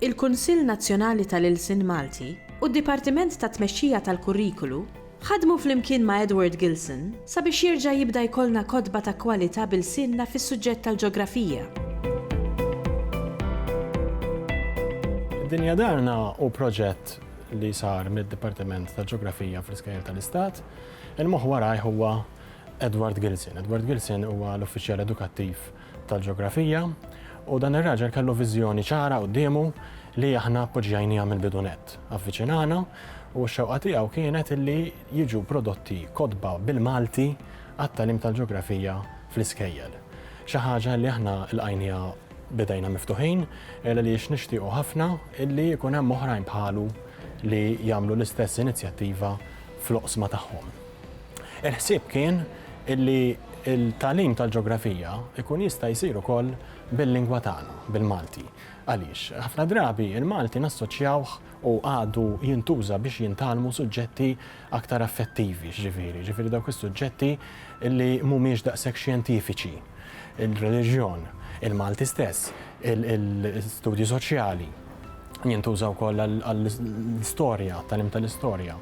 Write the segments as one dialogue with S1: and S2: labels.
S1: il-Kunsill Nazzjonali tal-Ilsien Malti u d-Dipartiment tat-Tmexxija tal-Kurrikulu ħadmu flimkien ma' Edward Gilson sabiex jerġa' jibda jkollna kotba ta' kwalità b'ilsienna fis-suġġett tal-Ġografija. Dinja Darna hu proġett li sar mid-Dipartiment tal-Ġografija fl-Iskejjel tal-Istat. Il-moħħ warajh huwa Edward Gilson. Edward Gilson huwa l-Uffiċjal Edukattiv tal-ġeografija u dan ir-raġel kellu viżjoni ċara quddiemu li aħna appoġġjajniha mill-bidu nett. Avviċinana u x-xewqa tiegħu kienet illi jiġu prodotti kotba bil-Malti għat-tagħlim tal-ġeografija fl-iskejjel. Xi ħaġa li aħna lqajniha b'idejna miftuħin għaliex nixtiequ ħafna illi jkun hemm oħrajn bħalu li jagħmlu l-istess inizjattiva fl-oqsma tagħhom. Il-ħsieb kien illi l-tagħlim tal-ġografija jkun jista' jsir ukoll bil-lingwa tagħna, bil-Malti. Għaliex, ħafna drabi l-Malti nassoċjawh u għadu jintuża biex jintgħallmu suġġetti aktar affettivi, x'ġifieri, ġifieri dawk is-suġġetti li mhumiex daqshekk xjentifiċi, il-reliġjon, il-Malti stess, il-studji soċjali. jintuża wkoll għall-istorja, tagħlim tal-istorja.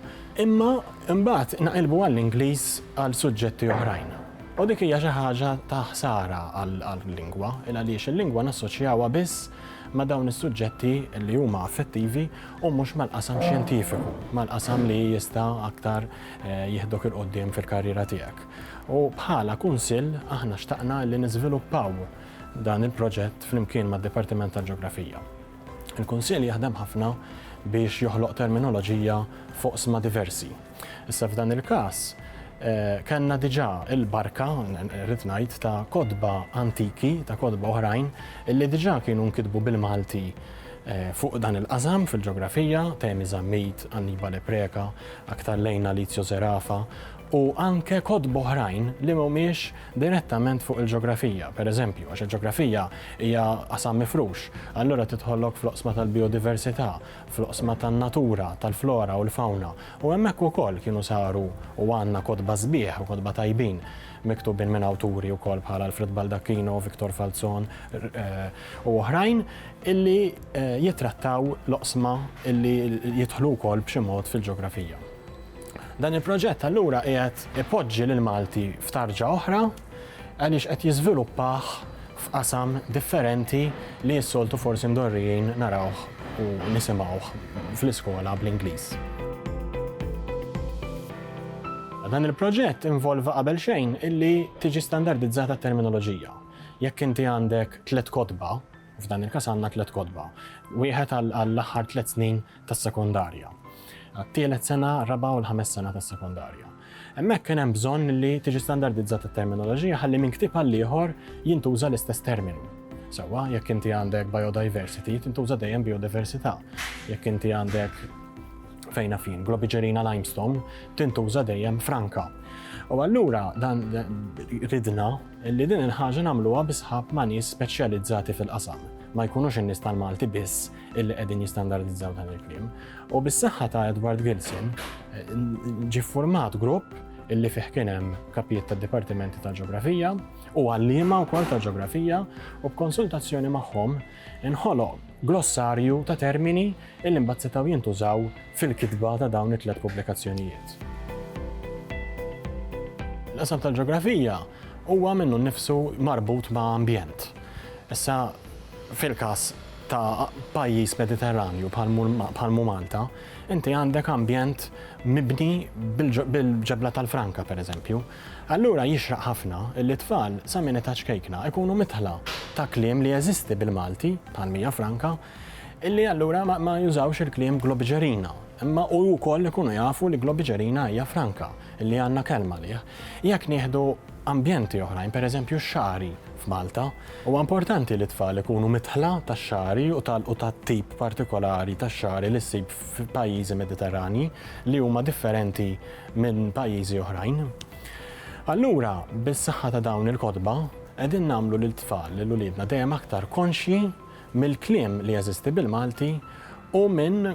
S1: Imma imbagħad naqilbu għall-Ingliż għal suġġetti oħrajn. U dik hija xi ħaġa ta' ħsara għall-lingwa, il għaliex il-lingwa nassoċjawha biss ma' dawn is-suġġetti li huma affettivi u mhux mal-qasam xjentifiku, mal-qasam li jista' aktar eh, jihdok il-qoddim fil-karriera tiegħek. U bħala kunsill aħna xtaqna li niżviluppaw dan il-proġett flimkien mad-Dipartiment tal-Ġeografija. Il-Kunsill jaħdem ħafna biex joħloq terminoloġija f'oqsma diversi. Issa f'dan il-każ, kellna diġà l-barka, rrid ngħid, ta' kotba antiki, ta' kotba oħrajn, illi diġà kienu nkitbu bil-Malti fuq dan il-qasam fil-ġeografija, Temi Zammit, Annibale Preca, aktar lejn Alizio Zerafa, u anke kotba oħrajn li mhumiex direttament fuq il-ġeografija, pereżempju, għax il-ġeografija hija qasam mifrux, allura tidħollok fl-oqsma tal-bijodiversità, fl-oqsma tan-natura, tal-flora u l-fawna, u hemmhekk ukoll kienu saru u għandna kotba sbieħ u kotba tajbin miktubin minn awturi wkoll bħal Alfred Baldacchino, Victor Falzon u oħrajn illi jittrattaw l-oqsma illi jidħlu wkoll b'xi mod fil-ġeografija. Dan il-proġett allura qiegħed ipoġġi lil Malti f'tarġa oħra għaliex qed jiżviluppah f'qasam differenti li s-soltu forsi mdorrijin narawh u nisimgħuh fl-iskola bl-Ingliż. Dan il-proġett involva qabel xejn illi tiġi standardizzata t-terminoloġija. Jekk inti għandek tliet kotba, f'dan il-każ għandna tliet kotba, wieħed għall-aħħar tliet snin tas-sekondarja, għat-tielet sena, raba' u l-ħames sena tas-sekondarja. Hemmhekk kien hemm bżonn li tiġi standardizzat it-terminoloġija ħalli minn ktieb għal ieħor jintuża l-istess terminu. Sewwa, jekk inti għandek biodiversity, tintuża dejjem biodiversità. Jekk inti għandek fejna fin, globigerina limestone, tintuża dejjem franka. U allura dan ridna li din il-ħaġa nagħmluha bisħab ma' nies speċjalizzati fil-qasam. Ma jkunux in-nies tal-Malti biss illi qegħdin jistandardizzaw dan il-kliem. U bis-saħħa ta' Edward Gilson ġi format grupp illi fih kien hemm kapijiet tad dipartimenti ta' ġeografija u għalliema wkoll ta' ġeografija u b'konsultazzjoni magħhom inħoloq glossarju ta' termini illi mbagħad setgħu jintużaw fil-kitba ta' dawn it-tliet pubblikazzjonijiet. L-qasam tal-ġeografija huwa minnu nnifsu marbut ma' ambjent. Issa fil-każ ta' pajjiż Mediterranju bħal mhu Malta, inti għandek ambjent mibni bil-ġebla tal-franka pereżempju. Allura jixraq ħafna li t-tfal sa minn età ċkejkna jkunu midħla ta' kliem li jeżisti bil-Malti, bħal mija franka, li allura ma jużawx il-kliem globiġerina, imma u wkoll ikunu jafu li globiġerina hija franka, li għandna kelma għalih. Jekk nieħdu ambjenti oħrajn, pereżempju x-xagħri f'Malta. Huwa importanti li t-tfal ikunu midħla tax-xagħri u tal-u tat-tip partikolari tax-xagħri li ssib f'pajjiżi Mediterranji li huma differenti minn pajjiżi oħrajn. Allura, bis-saħħa ta' dawn il-kotba, qegħdin nagħmlu lit-tfal, lil uliedna dejjem aktar konxji mill-kliem li jeżisti bil-Malti u minn